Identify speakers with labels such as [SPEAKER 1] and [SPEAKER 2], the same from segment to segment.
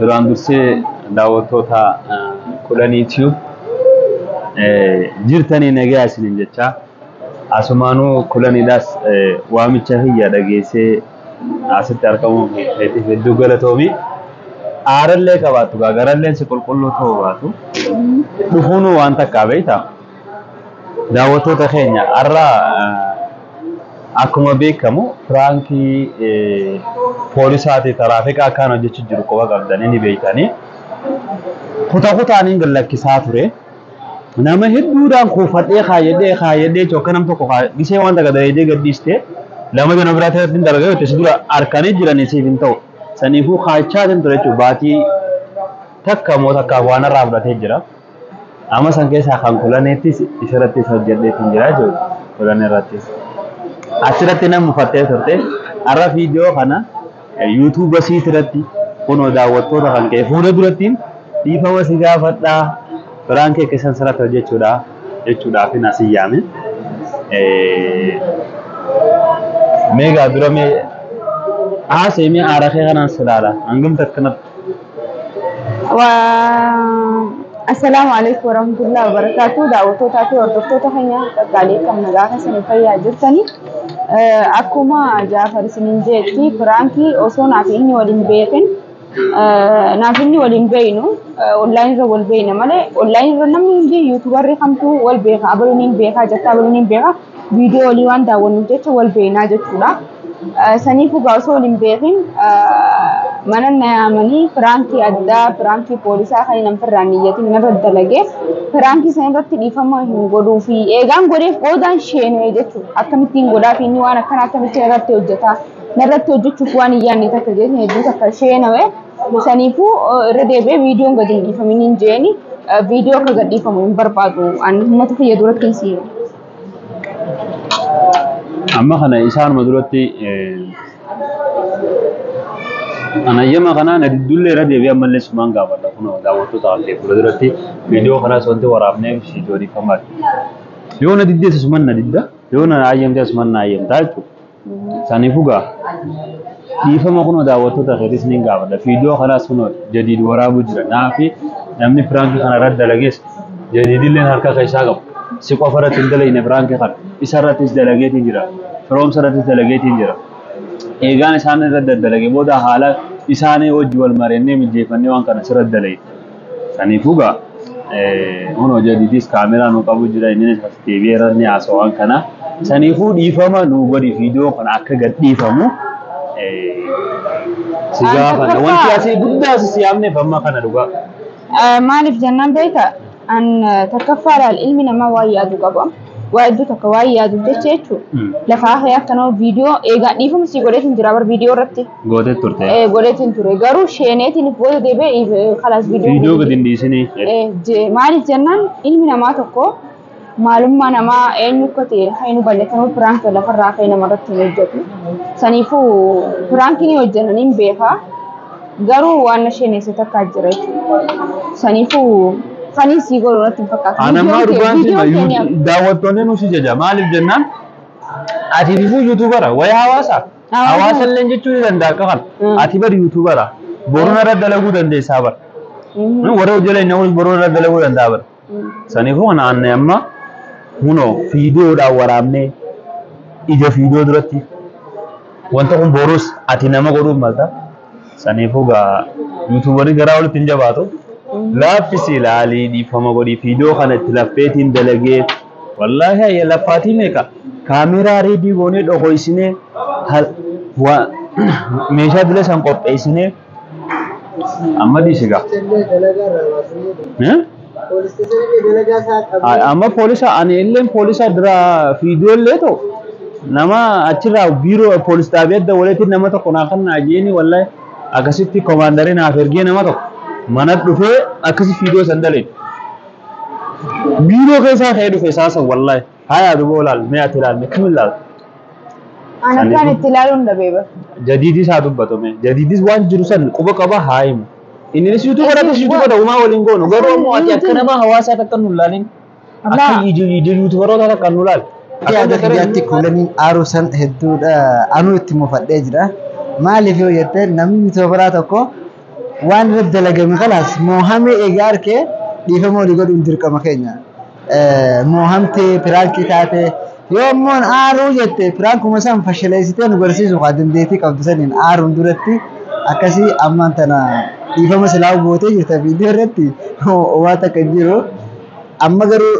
[SPEAKER 1] Duraan dursee daawwattoota kudhanii tube jirtanii nagaa isiniin jechaa asumaanuu kudhaniidhaas waamicha kiyya dhageessee asitti argamuun keetiif hedduu galatoomi. Aarallee qabaattu gaa garalleen si qulqulluu ta'uu baatu dhufuunuu waan takkaa beektaa? Daawwattoota keenya har'a akkuma beekamu piraankii poolisaati taraafika akkaan hojjechuu jiru qofa qabdanii ni beektanii. Kuta kutaaniin gad lakkisaa ture. Nama hedduudhaan kuufadhee kaayadhee kaayadhee yookaan nam tokko gisee wanta gad dheedee gad dhiiste lama jana biraa ta'etti dargagoo itti si dura harkanii jiranii siif hin ta'u. Saniifuu kaachaa ture jechuudha baatii takka moo takkaaf waan irraa fudhatee jira. Amma san keessaa kan kulaneettis isirrattis hojjedheetiin jira jechuudha. Kulaneerrattis. Achirratti nan mufattee turte. Har'a viidiyoo kana yuutuuba siitirratti kunoo daawwattoota kan ka'e fuula durattiin dhiifama si gaafadhaa biraankii keessan sirratti hojjechuudha jechuudhaaf hin asii yaame. Meegaa dura mee haasee mee aara kee kanaan silaala hangam takkanatti
[SPEAKER 2] Assalaamu alaikum warahmatullahi wabarakatuh. Daawwattootaa fi hordoftoota keenya qaqqaalee kan nagaa keessanii fayyaa jirtanii. Akkuma Jaafar isiniin jeetti piraankii osoo naaf inni waliin beekin naaf inni waliin beeynu onlaayin irra wal beeyna malee onlaayin irra namni hundi yuutubarri kamtuu wal beeka abaluun hin beekaa jetta abaluun hin beekaa viidiyoo olii waan daawwannuuf jecha wal beeknaa jechuudha. Saniif egaa osoo wal hin beekin mana na yaamanii firaankii addaa firaankii poolisaa kan hin firraan niyyatiin narra dalagee firaankii sana irratti dhiifama hin godhuu fi eegaan godheef boodaan sheenee jechuudha. Akkamittiin godhaa fi inni waan akkanaa akkamittiin irratti hojjetaa narratti hojjechuuf waan hin yaadne takka jechuun hedduu takka sheenawee. Saniifuu irra deebi'ee viidiyoon gadi hin dhiifamin hin jeeni viidiyoo akka gad dhiifamu hin barbaadu ani uummata kiyya duratti hin siine.
[SPEAKER 1] Amma kana isaanuma duratti anayyama kanaan dudduullee irra deebi'ee ammallee sumaan gaafadha kun daawwattoota hafee fuula duratti viidiyoo kanaas wanti waraabnee viidiyoo dhiifamaati. Yoo na diddeessa suman na didda yoo na ayyamte suman na ayyamta jechuudha. Saniifuu gaa dhiifama kunoo daawwattoota keetis niin gaafadha. Fiidiyoo kanaas kunoo jadiid waraabuu jira. Naafi namni piraankii kana irratti dalagees jadiidilleen harka keessaa qabu. Si qofa irratti hin dalagne piraankii kana. Isa irrattis dalageetiin jira. Firoomsa irrattis dalageetiin jira. Eegaan isaan irratti daddalage booda haala isaanii wajji wal mari'annee mijjeeffannee waan kana sirratti dalage. Saniifuu gaa Huno jadiidis kaameraa nu qabu jira inninis as deebi'eera ni haasawaan kana. Saniifuu dhiifama nu godhi viidiyoo kana akka gad dhiifamu si An gaafanna. Wanti tokkoffaa asii guddaa asi si yaamneef amma kana dhugaa. eh, maaliif
[SPEAKER 2] jennaan beekta an eh, tokkoffaa laal ilmi namaa waan yaadu qaba. waa hedduu takka waa'ee yaaduuf jecha jechuudha. Mm. Lafa hafee akka nama viidiyoo eegaa dhiifama sii godheetiin jira bar viidiyoo irratti Gootee turte. eh,
[SPEAKER 1] godheetiin ture garuu
[SPEAKER 2] sheeneetiin booda deebi'ee eh, kalaas Viidiyoo viidiyoo gadi hin dhiisinii.
[SPEAKER 1] Eh, je- maaliif
[SPEAKER 2] jennaan ilmi namaa tokko maalummaa namaa eenyu akka ta'e kan hin hubanne kanuu piraanki lafarraa ka'ee namarratti hin hojjetu. Saniifuu piraanki ni hojjetan hin beekaa. Garuu waan na sheeneesse takka jira jechuudha. Saniifuu sanii sii godhu natti hin fakkaatu. Ana ammaa Viidiyoon kee- dhugaan
[SPEAKER 1] si viidiyoon kee ni hafa. daawwattoonni nu si jaja maaliif jennaan ati bifuu yuutuubara wayii hawaasaa Hawaasa. hawaasa illee jechuu ni danda'a akka kana Mm. ati bari yuutuubara boruun irra dalaguu dandeessaa bara Mhm. warra hojjala inni boruun irra dalaguu danda'a bara Saniifuu kana aanne amma kunoo fiidiyoodhaan waraabnee ija fiidiyoo duratti wanta kun boruus ati nama godhuuf malta. Saniifuu gaa yuutuubarii garaa walitti hin jabaatu. Laaffisi ilaalii dhiifama godhii fiidiyoo kana itti laffeetiin dalagee wallaahi ayya laffaatii meeqa kaameeraa reedii goonee dhokoysinee meeshaa dila san qopheessinee Amma dhiise gaa. Eh? Ay, Amma poolisa ani illee poolisa dura fiidiyoo illee ta'u nama achirraa biiroo poolis xaabii adda walitti nama tokko naa kan naa jeeni wallahi akkasitti koomaandarii naaf ergee nama tokko mana dhufee akkasi fiidiyoo san dalee biiroo keessaa ka'ee dhufe isaa san wallahi. Haya duba olaal mee ati ilaal mee kami ilaal. Ana
[SPEAKER 2] Ani- kan itti ilaaluun dhabee bara. Jadiidis haa dubbatu
[SPEAKER 1] mee. Jadiidis waan jiru san quba qaba haa himu. Inninis yuutuuba irrattis Inni- yuutuuba ta'umaa waliin goonu garuu ammoo ati akka nama hawaasaa takka nu ilaalin. Akka Abaa. ija ija yuutuubarootaa takka nu ilaali. Yaada kiyyaatti
[SPEAKER 3] kuulaniin aaruu san hedduudha. Anuu itti mufadhee jira. Maaliif yoo jette namni yuutuubaraa tokko Waan irratti dalagame kanas moohamee eega arkee dhiifama walii godhuun dirqama keenya. Moohamtee, piraankii taatee, yoo ammoon aaruu jette piraankuma san fashaleessitee nu garsiisuu kaa dandeettii qabdu saniin aaruun duratti akkasii ammaan tana dhiifama silaa'uu gootee jirta viidiyoo irratti waan takka hin jiru. Amma garuu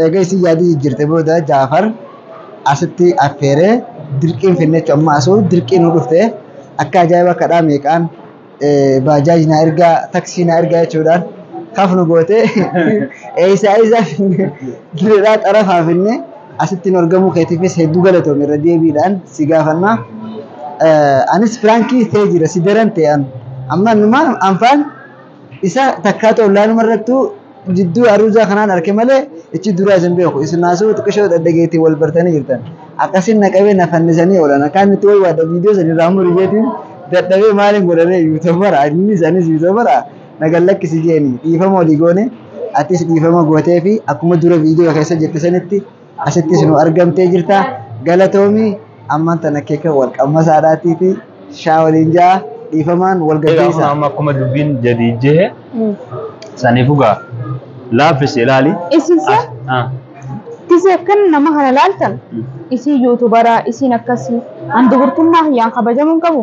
[SPEAKER 3] eega isin yaadii jijjiirte booda Jaafar asitti affeeree dirqiin finne jechuudha. Amma asuu dirqiin nu dhufte akka ajaa'iba kadhaa meeqaan baajaaj na ergaa taksii na ergaa jechuudhaan kaf nu goote eessaa eessaa finne direedhaa xarafaa finne asitti nu argamuu keetiifis hedduu galatoome irra deebiidhaan si gaafannaa. Anis firaankii ta'ee jira si daran ta'e amma numaan anfaan Isa takkaatu ollaanuma irrattuu jidduu aruuzaa kanaan arke malee ichi duraa isin beeku. Isimaasuu xiqishoo dhadhageetiin wal bartanii jirtan. Akkasiin na qabee na fannisanii oolan. Akkaan itti waywaadha viidiyoo san irraa muri jeetiin dadhabee maaliin godharee yuutobara anis anis yuutobara na gad lakkisi jeeni dhiifama olii goone atis dhiifama gootee fi akkuma dura viidiyoo keessa jette sanitti asittis nu argamtee jirta galatoomi ammaan tana keeka wal qammasaadhaatiiti shaa waliin ja'a dhiifamaan wal Egaa kun gaggeessa. amma akkuma dubbiin
[SPEAKER 1] jedhi jehe saniif ugaa laaffisi ilaali. Isin si'a
[SPEAKER 2] As- ah, Tisi akkan nama kana laaltan mm. isin yuutubaraa isin akkasii an dubartummaa hiyyaan kabajamuun qabu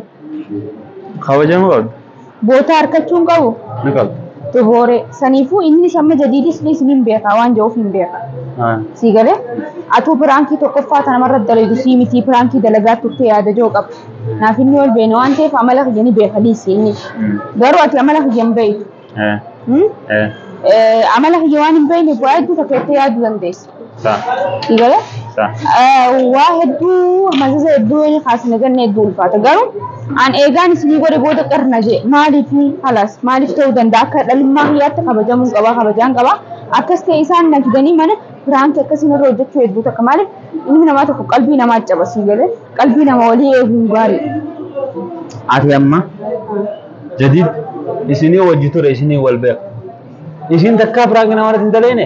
[SPEAKER 1] Kabajamuu qabdu. Bootaa harkachuu
[SPEAKER 2] hin qabu? Ni qabu.
[SPEAKER 1] Xibooree.
[SPEAKER 2] Saniifuu inni samma jadiidis ni isiniin beeka waan jedhuuf hin beeka. Haa. Sii galee? Atuu piraankii tokkoffaa tana marra dalagu sii mitii piraankii dalagaa turte yaada joo qabu. Naaf inni wal beene waan ta'eef amala kiyya ni beeka dhiisi inni. Mm. Garuu ati amala kiyya hin beektu. Eh. Hmm? Eh. Eh, Amala kiyya waan hin beekneef waa hedduu takka jettee yaaduu dandeessa. Sa. Gale? Sa. Waa hedduu mazaza hedduu inni kaasne ganna hedduu ulfaata. Garuu an eegaan isinii godhe booda qirna jee maaliif halas maaliif ta'uu danda'a akka dhalummaa kiyyaatti kabajamuu qaba kabajaan qaba. Akkas ta'e isaan na fidanii mana firaankii akkasiin irra hojjechuu hedduu takka maaliif ilmi namaa tokko qalbii namaa cabasii galee qalbii nama walii eeguun gaarii.
[SPEAKER 1] Ati amma jadid isinii wajji ture isinii wal beeku. Isin takkaa firaanki namarratti hin daleene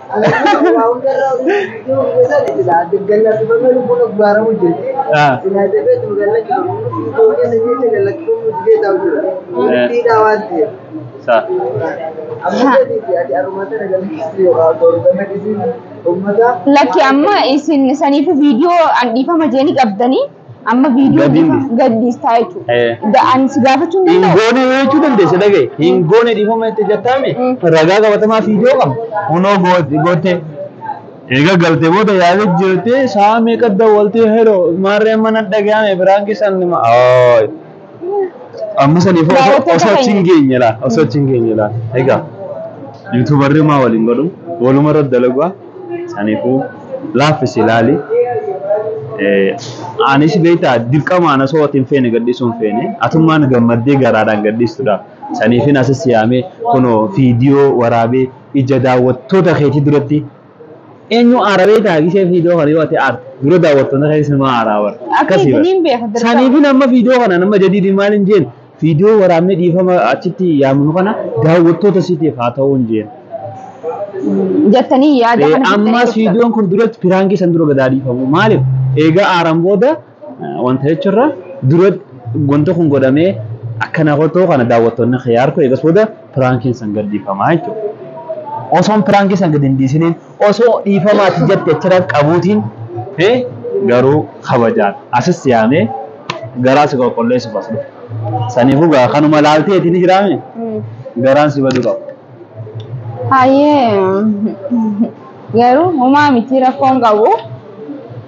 [SPEAKER 2] Lakki amma isin saniifu viidiyoo an dhiifama jeeni qabdanii Amma viidiyoo Gadi bifa hin- gadhiistaa jechuudha. Eh. Da- Ani si gaafachuu hin Hin danda'u. goone yoo jechuu dandeesse
[SPEAKER 1] dhagaye. Hin goone dhiifama itti jattaame. Mm. Ragaa qabatamaa fiidiyoo qabu. Kunoo goot- goote. Egaa galtee booda yaada jirtee sa'a meeqa dawwaltee heroo maarree mana dhaga'ame biraan keessan nima. Ooy. Amma saniif osoo Daawwattoota osoo achi hin keenya. geenye laa osoo achi hin geenye laa egaa yuutuubarri maa waliin godhu waluma irratti dalagaa saniifuu laaffisi laali. Eh, Anis beektaa dirqamaan osoo ati hin feene gadhiisuu hin feene atummaan gammaddee garaadhaan gadhiistudha. Saniifin asis yaamee kunoo viidiyoo waraabee ija daawwattoota keetii duratti Eenyu aara beektaa gishee viidiyoo kana yoo ati aarte dura daawwattoonni kee sinuma aaraa bar. Akkasii Akkasii bar. isiniin beeka dirqama. Saniifin amma viidiyoo kana nama jadiidii maal hin jeen viidiyoo waraabnee dhiifama achitti yaamnu kana daawwattoota siitiif haa ta'uu hin jeen. Jettanii
[SPEAKER 2] yaada kana Ammas fixanii viidiyoon kun
[SPEAKER 1] duratti piraankii san dura gadaa dhiifamu maaliif eegaa aaran booda Wanta jechuurra dura wanta kun godhamee akkana kotoo kana daawwattoonni kee harku eegas booda piraankiin san gad dhiifamaa jechuudha. Osoon piraankii san gad hin dhiisiniin osoo dhiifamaati jette achirra qabuutiin garuu kabajaan asis yaamee garaa si qulqulleessuuf as dhufe. Saniifuu gaa kanuma laaltee ittiin jiraame garaan si baduu qaba.
[SPEAKER 2] Hayyee garuu homaa miti rakkoon qabu.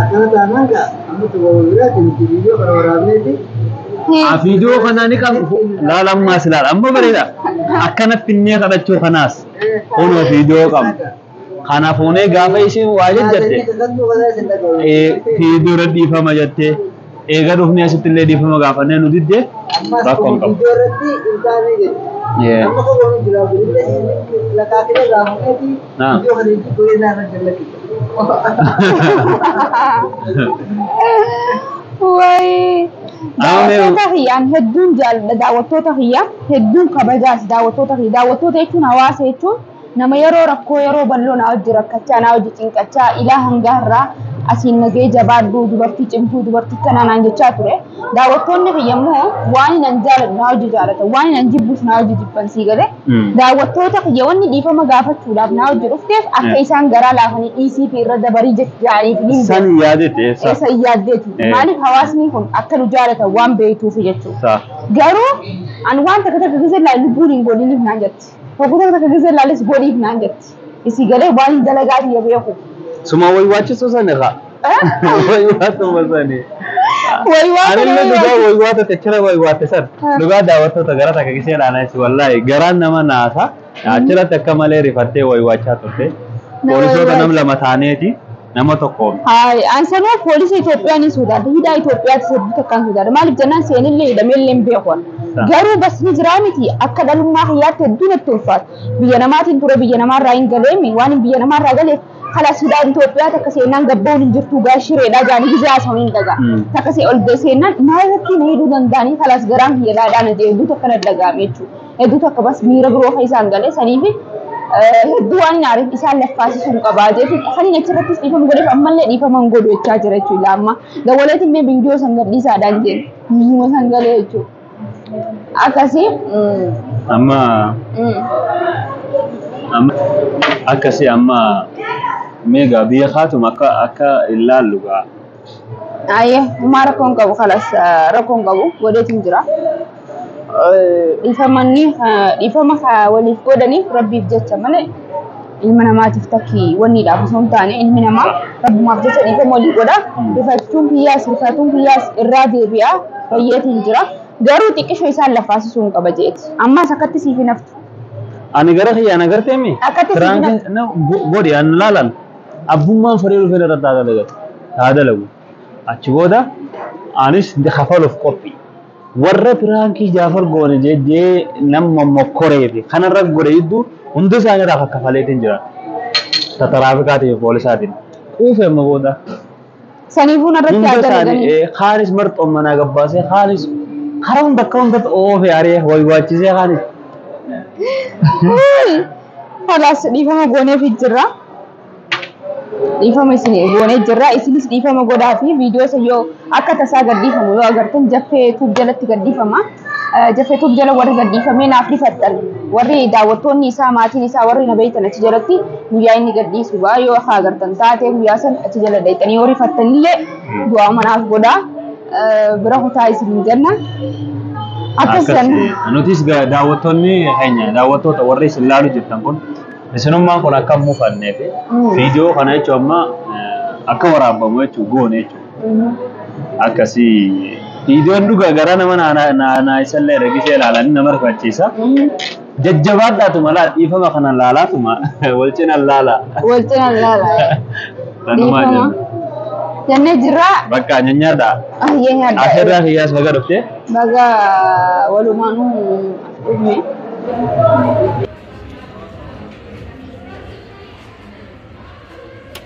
[SPEAKER 3] Akkana taanaan gaa amma tokko biraatti nuti viidiyoo kana waraabneeti. Ah,
[SPEAKER 1] viidiyoo kanaa ni qabu. Laala ammaas ilaala. Amma bareeda. Akkana finnee kadhachuu kanaas. Kunoo viidiyoo qabna. Kana fuunee gaafa isheen waa jajjatte. Viidiyoo irra dhiifama jettee. Eega dhufnee asitti illee dhiifama gaafannee nu didde rakkoo hin qabu.
[SPEAKER 3] Yeah. Naam. Wayii. Amma
[SPEAKER 2] mee- Daawwattoota kiyyaan hedduun jaalladha. Daawwattoota kiyya hedduun kabajaas daawwattoota kiyya. Daawwattoota jechuun hawaasa jechuun Nama yeroo rakkoo yeroo balloo naa wajji rakkachaa naa wajji cinqachaa ilaa hangaa irraa asiin nagee jabaadhu dubartii cimtuu dubartii kanaa naan jechaa ture. Daawwattoonni kiyya immoo waan nan jaalatu naa wajji jaalatan waan nan jibbus naa wajji jibban sii galee. Daawwattoota kiyya wanni dhiifama gaafachuudhaaf naa wajji dhufteef akka isaan garaa laafanii dhiisii fi irra dabarii jedhaaniif hin beeku. San yaadeeti
[SPEAKER 1] eessa? Eessa hin yaaddeeti.
[SPEAKER 2] Maaliif hawaasni kun akka nu jaalatan waan beektuuf jechuudha. Garuu an waan takka takka keessa illee lubbuun hin godhiniif naan jetti. Hoggota takka gisee laalis godhiif naan jetti. Isii galee waan hin dalagaa biyya beeku. Suma way
[SPEAKER 1] waachisuu san irraa. Way waatuma sani. Way waata Anillee way dhugaa waata. way waata techira way waate san. Ah. Dhugaa daawwattoota gara takka gisee laanis wallaahi garaan nama naasa. Achirratti akka malee rifattee way waachaa turte. Nama Poolisoota way nam waate. lama taaneeti. nama tokkoon. An sanuu
[SPEAKER 2] poolisa Itoophiyaa ni sodaadha. Hidhaa Itoophiyaatti hedduu takkaan sodaadha. Maaliif jennaan seenillee hidhameellee hin beeku. Garuu basni jiraa miti akka dhalummaa kiyyaatti hedduu natti ulfaata. Biyya namaatiin ture biyya namaarraa hin galeemi waan hin biyya namaarraa galeef kalas hidhaa Itoophiyaa takka seenaan gabba'uun hin jirtu gaa shireedhaa jaanii gizee haasawanii hin dhagaa. Takka see ol seenaan maal irratti na hidhuu danda'anii kalas garaan kiyya laadhaa na jee hedduu takka na dhagaame jechuudha. hedduu takka bas miira biroo kan isaan galee saniif hedduu waan hin aariif isaan laffaasisuu hin qabaa jeeti kan inni achirrattis dhiifama godheef ammallee dhiifama hin godhu jechaa jira jechuudha amma dawwaleetiin illee viidiyoo san gadhiisaadhaan jeen viidiyoo san galee jechuudha akkasii
[SPEAKER 1] Amma amma akkasii amma meegaa biyya kaatuma akka akka ilaallu gaa Ayyee
[SPEAKER 2] umaa rakkoon qabu kalas rakkoon qabu godheetiin jira. Dhiifamanni dhiifama waliif godhaniif rabbiif jecha malee ilma namaatiif takki wanniidhaaf osoo hin taane ilmi namaa rabbumaaf jecha dhiifama walii godha. Rifachuun kiyyaas rifatuun kiyyaas irraa deebi'aa fayyeetiin jira. Garuu xiqqishoo isaan lafaasisuu hin qaba jeeti. Ammaas akkatti siif hin haftu. Ani gara
[SPEAKER 1] kiyyaan agarteemi. Akkatti siif hin haftu. Godhi an laalan. abbummaan fudhee dhufee irratti haa dalagatu haa dalagu achi booda anis kafaluuf qophii warra piraankii jaafar goone jeddee nama mokkoree fi kanarra godhe jidduu hunda isaanii irraa kakkafaleetiin jira tataraafikaatiif poolisaatiin quufe amma booda Saniifuu
[SPEAKER 2] narratti Hunda haa isaanii dalaganii. ee, kaanis marxoon
[SPEAKER 1] manaa gabbaasee kaanis karaa hunda akka hundatti oofee aree waywaachisee kaanis.
[SPEAKER 2] Kalaas dhiifama gooneef jirra. Dhiifama isin goonee jirra. Isinis dhiifama godhaa fi viidiyoo isa yoo akka tasaa gadhiifamu yoo agartan jaffee tuub jalatti gadhiifama. Jafetuuf jala warri gadhiifamee naaf dhifattan warri daawwattoonni isaa maatiin isaa warri na beektan achi jalatti guyyaa inni gadhiisu gaa yoo akka agartan taatee guyyaa san achi jala dhayxanii yoo rifattanillee du'aa manaaf godhaa bira kutaa isin hin jenna. Akkasiin nutis
[SPEAKER 1] daawwattoonni keenya daawwattoota warri isin laalu jirtan kun isinummaan kun akka hin mufanneef viidiyoo kana jechuun amma akka waraabamu jechuun goone jechuudha. akkasii viidiyoon dhugaa garaa nama naayisaallee ergisee ilaalanii nama rifachiisa. Jajjabaadhaatu malaa dhiifama kana laalaatuma wal cina laala. Wal cina laala.
[SPEAKER 2] Tanumaa Dhiifama. jenna. Jennee jirraa. Bakka nyanyaadha.
[SPEAKER 1] Ayyee nyaadha. Asirraa
[SPEAKER 2] kiyyaas baga
[SPEAKER 1] dhuftee. Baga
[SPEAKER 2] walumaanuu dhufne.